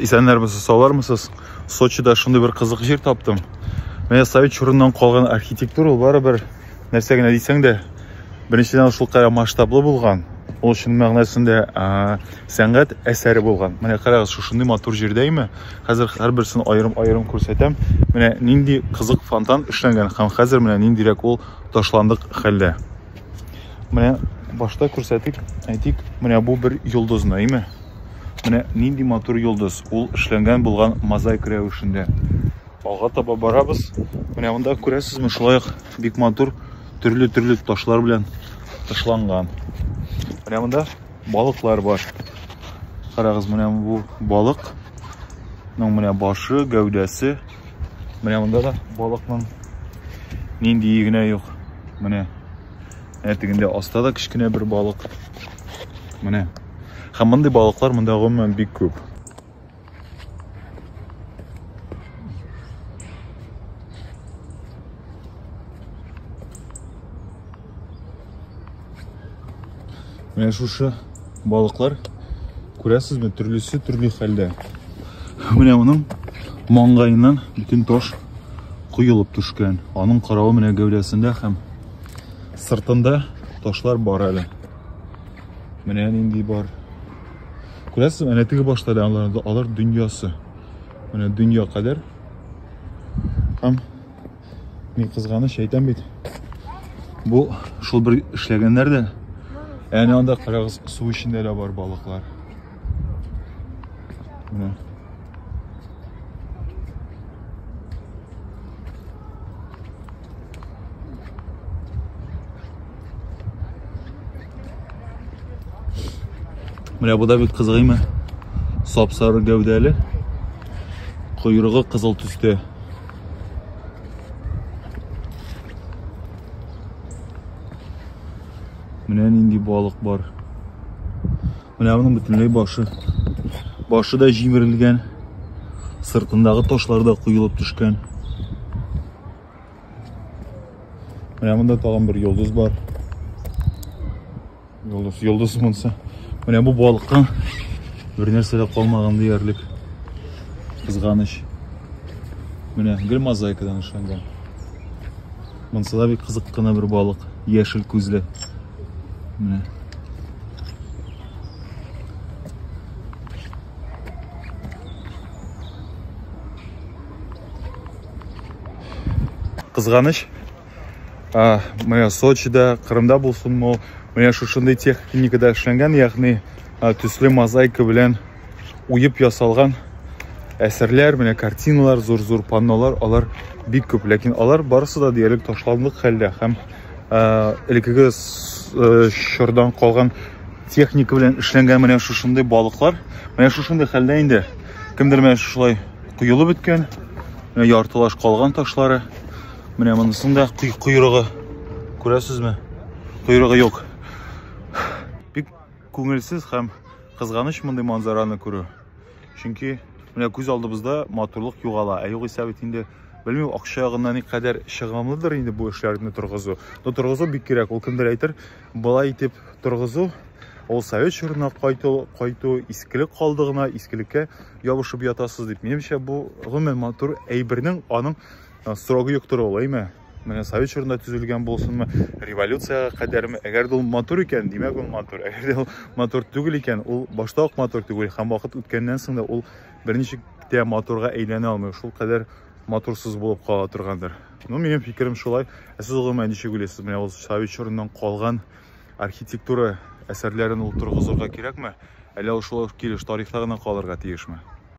Исәннәрмесез, саулармысыз? Сочида шундый бер кызык җир таптым. Менә совет чорыннан калган архитектура ул барыбер нәрсә генә дисәң дә, беренчедән шул кадәр масштаблы булган, ул чын мәгънәсендә сәнгать әсәре булган. Менә карагыз, шушындый матур җирдә име? Хәзер һәрберсен аерым-аерым күрсәтәм. Менә нинди кызык фонтан эшләнгән һәм хәзер менә ниндирәк ул ташландык хәлдә. Менә башта күрсәтик, әйтик, менә бу бер йолдыз наиме? Менә нинди матур йолдыз, ул эшләнгән булган мозаик рәвешендә. Алга таба барабыз. Менә монда күрәсезме, шулай ук бик матур төрле-төрле ташлар белән тышланган. Менә монда балыклар бар. Карагыз, менә бу балык. Ну, менә башы, гәүдәсе. Менә монда да балыкның нинди генә юк. Менә әтегендә аста да кечкенә бер балык. Менә Һәм мондый балыклар монда гомумән бик күп. Менә шушы балыклар күрәсезме, төрлесе төрле хәлдә. Менә моның маңгаеннан бүтін таш куелып түшкән. Аның каравы менә гәүдәсендә һәм сыртында ташлар бар әле. Менә нинди бар. Күрәсез, әнә теге башта да алар, алар дөньясы. Менә дөнья кадәр. Һәм ни кызганыч әйтәм бит. Бу шул бер эшләгәннәр дә. Әнә анда карагыз, су эчендә дә бар балыклар. Менә. Менә бу да бик кызыгыймы? Сап-сары гәүдәле, койрыгы кызыл төстә. Менә нинди балык бар. Менә аның бөтенләй башы. Башы да җимерелгән. Сыртындагы ташлар да куелып төшкән. Менә монда тагын бер йолдыз бар. Йолдыз, йолдыз монсы. Менә бу балыкка бер нәрсә дә калмаган диярлек. Кызганыч. Менә гел мозаикадан эшләнгән. Монсы да бик кызык кына бер балык, яшел күзле. Менә. Кызганыч, а, менә Сочида, Кырымда булсын, мол, менә шушындый техникада эшләнгән, ягъни төсле мозаика белән уеп ясалган әсәрләр, менә картиналар, зур-зур паннолар, алар бик күп, ләкин алар барысы да диярлек ташландык хәлдә һәм элеккеге чордан калган техника белән эшләнгән менә шушындый балыклар, менә шушындый хәлдә инде кемдер менә шулай коелып беткән, менә яртылаш калган ташлары, менә монысын да койрыгы, күрәсезме? Койрыгы юк. Күңелсез һәм кызганыч мондый манзараны күрү. Чөнки менә күз алдыбызда матурлык югала. Ә югыйсә бит инде белмим акча ягыннан никадәр чыгымлыдыр инде бу эшләрне торгызу но торгызу бик кирәк ул кемдер әйтер былай итеп торгызу ул совет чорына кайту кайту искелек калды гына искелеккә ябышып ятасыз дип минемчә бу гомумән матур әйбернең аның срогы юктыр ул әйме Менә совет чорында төзелгән булсынмы, революциягә кадәрме, әгәр дә ул матур икән, димәк ул матур. Әгәр дә ул матур түгел икән, ул башта ук матур түгел һәм вакыт үткәннән соң да ул берничек тә матурга әйләнә алмый. Шул кадәр матурсыз булып кала торгандыр. Ну, минем фикерем шулай. Ә сез гомумән ничек уйлыйсыз? Менә ул совет чорыннан калган архитектура әсәрләрен ул торгызырга кирәкме? Әллә ул шулай ук килеш тарихта гына калырга тиешме?